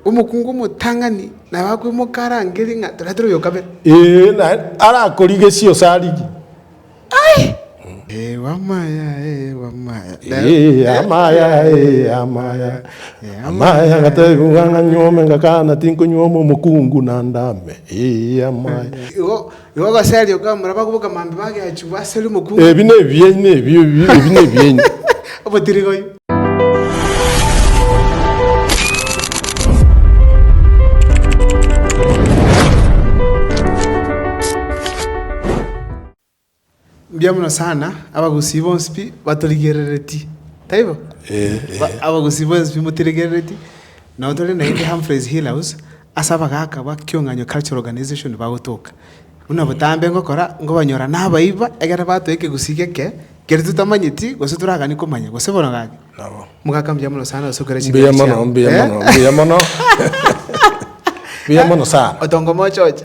Omokungu omotang'ani nabo akwemoka arange ring'ana, toretera oyo o kabere. Ee, na arakorigesie ose arigie. Ee, amaya, ee, amaya. Ee, amaya, ee, amaya. Amaya ngatebigwa ng'a nyuome, ngakana tinkonyuoma omokungu na ndame. Ee, amaya. Igo Igo gose aria okamura abagwe bokamambe bageachigwe asere omokungu. Ebi nebiaino, ebi ebi nebiaino. Obotirigoi. Mbuya mono sana, abagusii bonsi pi batorigerereti, taibo? Abagusii bonsi pi motiregerereti, nabo tore naende Humphreys Hill House, ase abagaaka ba Kiong'anyo Cultural Organization bagotoka. Buna botambe ngokora, nkobanyora nabaiba, egere batoe ekegusii geke, keria totamanyeti, gose toragani komanya, gose bono gaki. Mogaka mbuya mono sana gose okere chingaki chiao. Mbuya mono, mbuya mono, mbuya mono, mbuya mono sana. Otongo mochoche.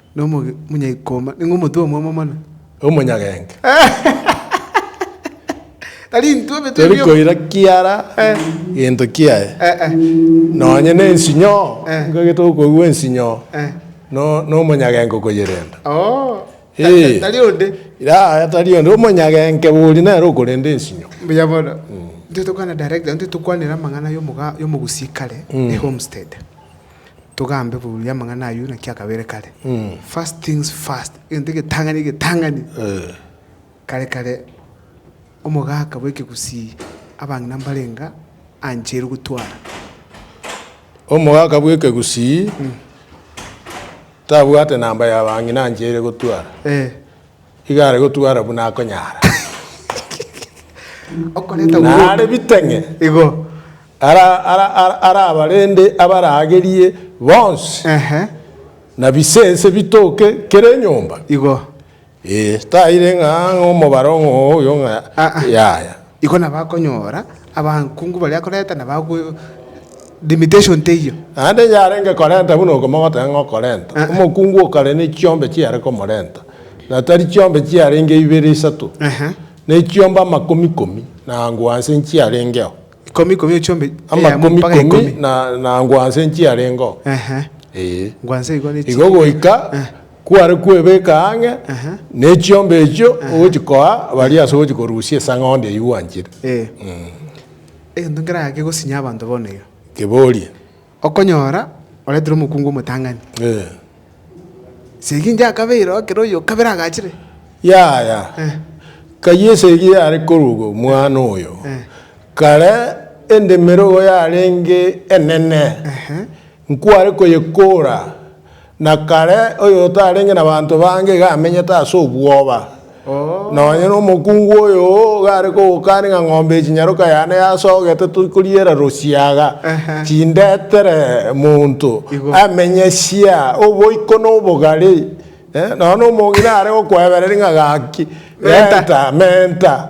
Nomonyaikoma, nigo omotwe omwamo mono. Omonyagenki. Tari intwe ebitwe Tori ebio. koira kiara Eh. gento kiaye. Eh, eh. Nonye ne ensinyo, Eh. nigo egete okoigwa ensinyo Eh. no nomonyagenki okoyerenda. Oo. Ee. Ta- Tari onde. Yaya tari onde, omonyagenke bori nere okorenda ensinyo. Mbuya mono. Intwe tokwana director, intwe tokwanera amang'ana yomoga yomogusii kare, ehomestead. togambe buya amang'ana ayio naki akabeire kare. First things first, egento egetang'ani egetang'ani. Kare kare omogaka bw'ekegusii abang'ina mbarenga ancheire gotwara. Omogaka bw'ekegusii tabwate namba y'abang'ina ancheire gotwara. Iga are gotwara buna akonyara. Okoreta Na are buru. biteng'e. Igo. Ara, ara, ara, ara abarende abaragerie bonsi. Ehe. Na bisense bitoke kera enyomba. Igo. Ee, taire ng'a ng'a omobaro ng'a oyo ng'a Ah, ah. yaya. Igo nabakonyora abakungu baria koreta na bagwe limitation teiyo. Naende yarenge korenta buna okomogotera ng'a okorenta. Omokungu okare ne chiombe chiare komorenta, na tari chiombe chiarenge ibere isato, ne chiombe amakomi ikomi na ango anse nchiarengeo. Ikomi ikomi echiombe eyemo mpaka ikomi. Amakomi ikomi na ango anse nchiarengeo. Ehe. Ee. Ango anse igo ne Igo goika. Kware kwebeka ang'e nechiomba echio ogochikoa baria ase ogochikorusia esang'ondi eyio gwanchire. Ee. Egento nkeraa kegosinya abanto bono iga. Keborie. Okonyora oreterwe omokungu omotang'ani. Ee. Segi inche akabeira ekero oyo okabere agachire. Yaya. Eh. Kayio esegi yare koruga omwana oyo. Eh. Kare endemero yarenge enene. Ehe. Nkware koyekora, na kare oyotarenge nabanto bange iga amenyete ase obwoba. Nonye nomokungu oyo gare kogokani ng'a ng'ombe ya chinyaroka yane yasogete torikoriera rosiaga, tindetere monto amenye sia oboiko na obogare. Nonya nomong'ina are gokwebereri ng'a gaki, renta, menta.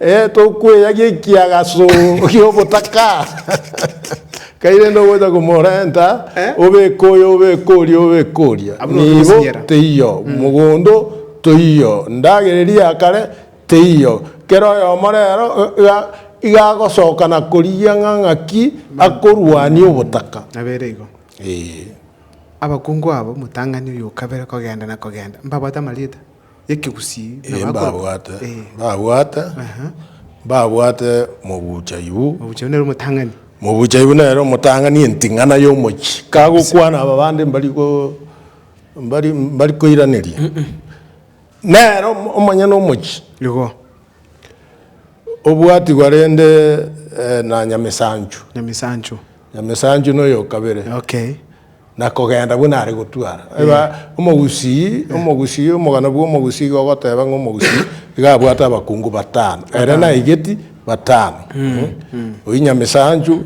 Eh, tokweyagia ekiagaso gi'obotaka kairende ogocha komorenta Eh? obeke oyo obeke oria obeke oria Abwo nigo nigo basinyera. teiyo mogondo toiyo ndagera eria ya kare teiyo kera oyomo rero iga iga agosoka na korigia ng'a ng'aki akorwania obotaka Nabere igo. Eh. Abakungu abo, omotang'ani oyo o kabere kogenda na kogenda, mbabwate amarieta? y'ekegusii Ee, mbabwate, mbabwate, mbabwate mobuchaibu. Mobuchaibu nere omotang'ani. Mobuchaibu nere omotang'ani enting'ana y'omochie. Kagokwana aba bande mbari go, mbari, mbari koiraneria. Nere omo, omonyene omochie. Igo. Obwatigwa rende na Nyamisanchu. Nyamisanchu. Nyamisanchu noyokabere. Okay. na kogenda buna are gotwara. Eba omogusii, omogusii, omogano bw'omogusii iga ogoteba ng'a omogusii iga abwate abakungu batano, ere naigeti batano. Oyio Nyamisanchu,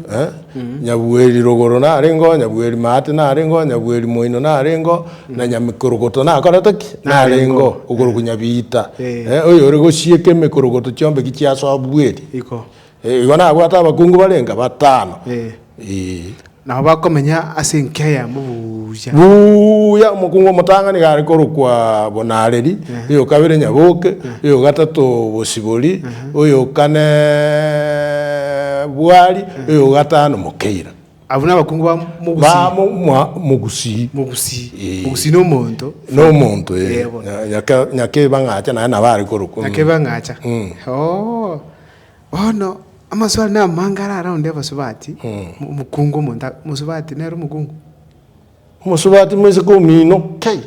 Nyabueri Rogoro narengeo, Nyabueri Maate narengeo, Nyabueri Moino narengeo, na Nyamikorogoto nakorete ki? Narengeo, okorokwa Nyabiita, oyore gosieka emekorogoto chiombe ki chiasobueri. Iko. Igo nabwate abakungu barenga batano. Ee. Nabo bakomenya ase enkia yamo buya. Buya, omokungu omotang'ani iga are korokwa Bonareri, oyokabere Nyaboke, oyogatato Bosibori, oyokane Bwari, oyogatano Mokeira. Abwo nabakungu ba Mogusii. Ba Mogusii. Mogusii. Ee. Mogusii na omonto. Na omonto, ee. Nyakebang'acha naye nabo are korokwa. Nyakebang'acha. Oo. Bono amaswali namange arare aonde abasubati, omokungu omonto, mosubati nere omokungu. Omosubati moiseke omino, Kei!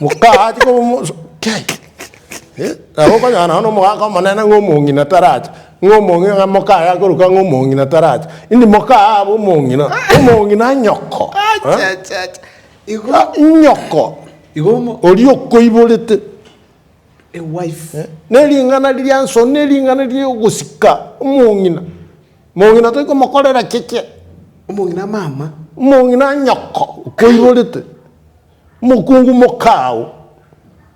Mokache koba omosu, Kei! Eh, nabo okonyora nonya omogaka omonene ng'a omong'ina taracha, ng'a omong'ina ng'a mokaye akoruka ng'a omong'ina taracha, indi mokaye abe omong'ina, omong'ina nyoko. Achachacha. Igo, Nyoko igo omo- oria okoiborete. a wife. Ne ring'ana riria nsoro ne ring'ana riria ogosika omong'ina. Omong'ina toikomokorera keke. Omong'ina mama. Omong'ina nyoko okoirorete. Omokungu mokao.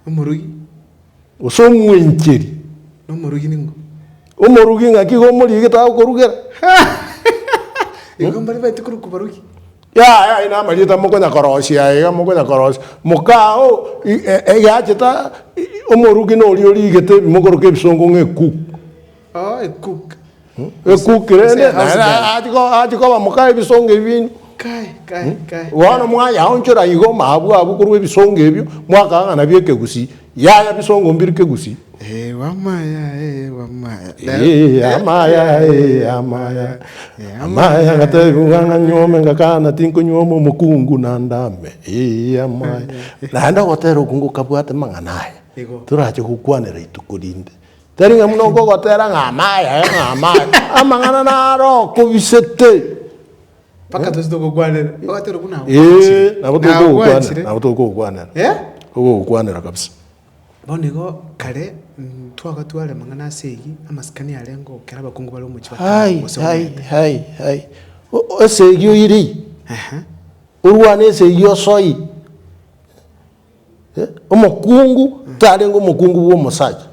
Omorogi. Gose omwencheri. Na omorogi ningo. Omorogi ng'aki iga omoriegete agokorugera. Igo mbare baete korokwa barogi. Yaya aye namarieta mokonyakorosia aiga mokonyakorosia mokaa oo i e egeacheta i omoruki noria origete ebi mokoroka ebisongo ng'a ecook. Oh, a cook. Ecook Gose- gose rende a house girl. achi ko achi koba mokaa ebisongo ebi binu. Kai, kai, kai. Bono mwayaonchora igo maabwo abwo korwa ebisongo ebio, mwakagana bia ekegusii, Yaya bisongo mbiru kegusi. Eh wamaya eh wamaya. Eh amaya eh amaya. Eh amaya ngatebia ng'ang'a nyome ngakana tinkonyuoma omokungu na ndame. Eh amaya. Naende ogotera okwo ngokabwate mang'ana aya. Igo. Torache gokwanera ituko rinde. Tari ng'a buna okogotera ng'a amaya eh ng'a amaya. Amang'ana naro okobisete. Mpaka toche togokwanera. Bagateba buna agwo Ee, agwanchire. nabo Na togokwanera, agwanchire. nabo togokwanera, Eh? togokwanera kabisa. Bono igo kare mm, twagatware amang'ana ase eyio, amasikani arenge okera abakungu bare omochie wa Hai, Turo gose hai, Omete. hai, hai. O- o- Ase eyio iri, Ehe. orwane ase eyio osoe. Omokungu tarenge omokungu bw'omosacha,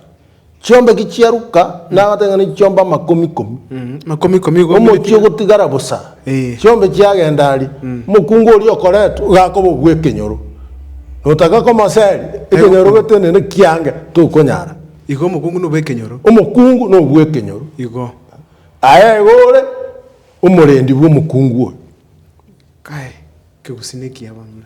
chiombeki chiaruka nagote ng'a nechiombe amakomi komi, Mm, makomi komi igo omochie omoretie. ogotigara bosa Eh. chiombe chiagenda aria omokungu oria okoretwe gakoba obw'ekenyoro notaka komoseri ekenyoro okonya. gete nende kiange tokonyara Igo omokungu nobe ekenyoro. omokungu nobw'ekenyoro Igo. aye igo ore omorendi bw'omokungu oyo Kae, kegusii nekiya bono.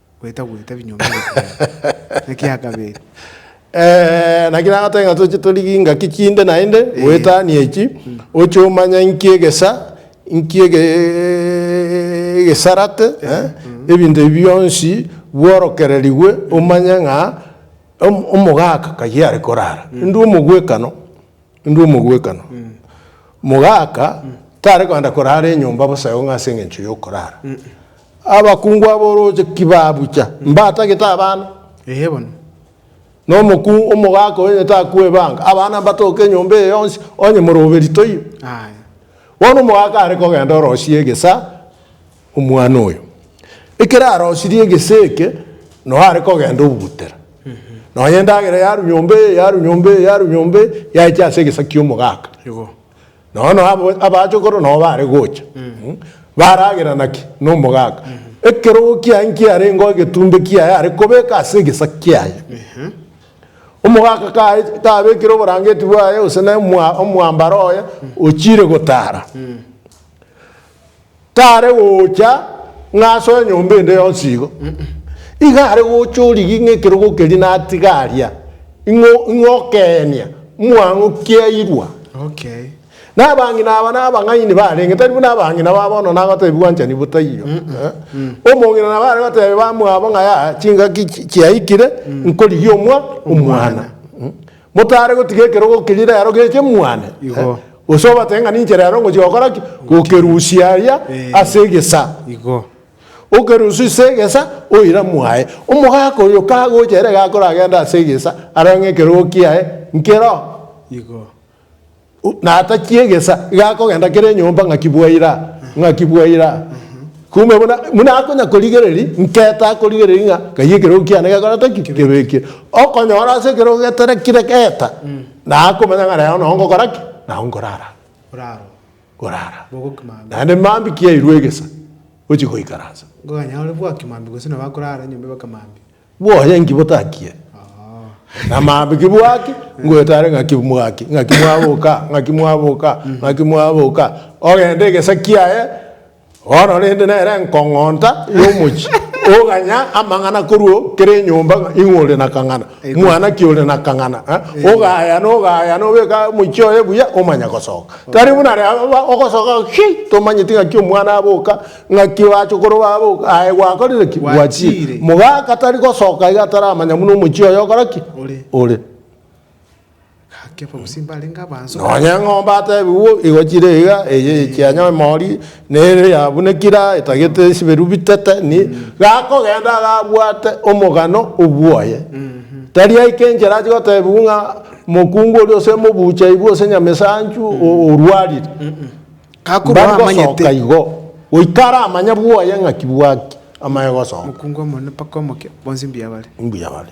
gwetagweta ebinyomba ebiaye. Ekia kabere. Ee, naki nagoteba ng'a toche torigie ingaki chinde naende goetania echi, oche omanya inki egesa, inki ege- egesarate, eh, ebinto ebi bionsi bworokererigwe omanye ng'a om- omogaka kayio are korara. Ndwo omogwekano. Inde omogwekano. Mogaka tare kogenda korara enyomba bosa eonge ase engencho y'okorara. Abakungu ab'orooche ki babucha? Mbatagete abana? Ee bono. Na omokungu, omogaka oyo onye takwe ebanga, abana mbatoke enyomba eye yonsi, onye morobe ritoiro. Aye. Bono omogaka are kogenda orosie egesa, Omwana oyo, ekero arosirie egese eke, noe are kogenda obugutera. Nonya endagera yarwa nyomba eye, yarwa nyomba eye, yarwa nyomba eye, yaecha ase egesa ki'omogaka. Igo. Nonya noe abo abachokoro noe bare gocha. Mm. Baragera naki? Nomogaka. Ekerogo kiaye nkiarengeo egetumbe kiaye are kobeka ase egesa kiaye. Omogaka kae kabekire oborangeti bwaye gose na omwa- omwambaro oye, ochire gotara. tare gocha ng'a asoe enyomba ende yonsi igo. Iga are gocha origi ng'a ekerogo keria natiga aria, ing'o ing'o okeenia mwang'o kiairwa. Okay. Nabang'ina aba nabang'aini barenge, tari buna abang'ina ba bono nagotebi gwanchani botaiyo. Eh? Omong'ina nabo are gotebia bamwabo ng'a ya chingaki chi- chiaikire, nkorigia omwa omwana. Mm. Motare gotiga ekerogo keria rero geche mwane, Igo. eh, gose obatebie ng'a ninche rero ngochia gokora ki? Gokerusia aria Eh. ase egesa. Igo. Okerusia ase egesa, oira mwaye. Omogaka oyo kagocha ere gakoragenda ase egesa, arore ng'a ekerogo kiaye nkero. Igo. Natachie egesa gakogenda kera enyomba ng'aki bwaira, ng'aki bwaira. Kumbe buna, buna akonya korigereri, nketa akorigereri ng'a kaiyo ekerogo kiane gekorete ki? Kebekire. Okonyora ase ekerogo geterekire geta, nakomanya ng'a rero nao ngokora ki? Nao nkorara. Oraro. Korara. Bogo kimambi. Naende mambi kiairwe egesa, ochia goikaransa. Nkoganya ore bwaki mambi gose nabo akorara enyomba eba kimambi. Bwoye nki botakie? Namaabe ki bwaki? Ngoetare ng'aki bwaki? Ng'aki mwaboka? Ng'aki mwaboka? Ng'aki mwaboka? Ogende egesa kiaye, bono rende nere enkong'onta y'omochie, oganya amang'ana korwa kera enyomba ng'a ing'o ore na kang'ana, mwana ki ore na kang'ana, eh, ogaya na ogaya na obeka omochie oye buya omanya gosoka. Tari buna reba ogosoka, Hii! tomanyeti ng'aki omwana aboka, Ng'aki bachokoro babo aye gwakorire ki? Gwachiire. Mogaka tari gosoka iga ataramanya buna omochie oye okora ki? Ore. Gaki abagusii mbarenge abanso. Nonya eng'ombe atebigwe igochire iga, eye yechianya emori, nere yabunekire aa, etagete esiberu bitete, ni. Gakogenda iga abwate omogano obwoye. Tari aike enchera achi gotebigwe ng'a mokungu oria ose mobucha aibwe ose nyama esanchu orwarire. Mbari gosoka igo, goika aramanye bwoye ng'a ki bwaki amaye gosoka. Mokungu omonene mpaka omoke, bonsi mbuya bare. Mbuya bare.